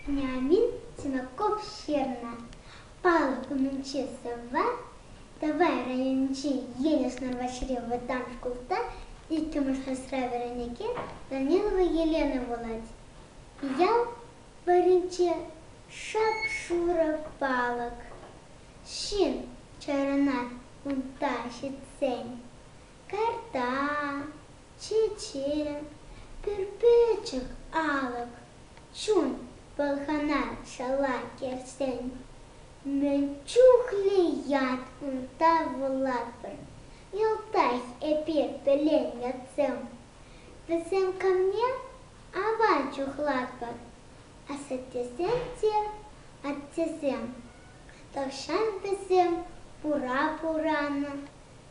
Вениамин Синаков ҫырнӑ «Палуба Манчестера давай районӗнчи Енӗш Нӑрвашри вӑтам шкулта иккӗмӗш класра вӗренекен Данилова Елена вулать. Ял варринче шап-шурӑ палӑк. Ҫын чарӑнать унта ҫитсен. карта, чечен, пӗрпӗчӗк алӑк, чун пӑлхана шала кӗрсен, мӗн чухлӗ ят унта вулатпӑр. Йӑлтах эпир пӗлен ятсем. Вӗсем камне аван чухлатпӑр. Асаттесем те аттесем. Тахҫан вӗсем пура пуранӑ.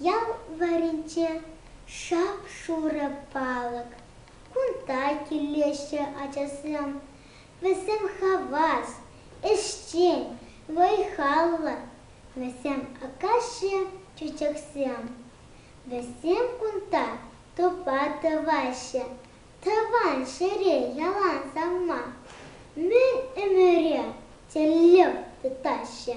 Ял варринче шап-шурӑ палӑк. Кунта килеҫҫӗ ачасем. Вӗсем хавас, ӗҫчен, вӑй-халлӑ. Вӗсем акаҫҫӗ чечексем. Вӗсем кунта тупа тӑваҫҫӗ. Тӑван ҫӗре ялан савма. Мӗн ӗмӗре тӗллев тытаҫҫӗ.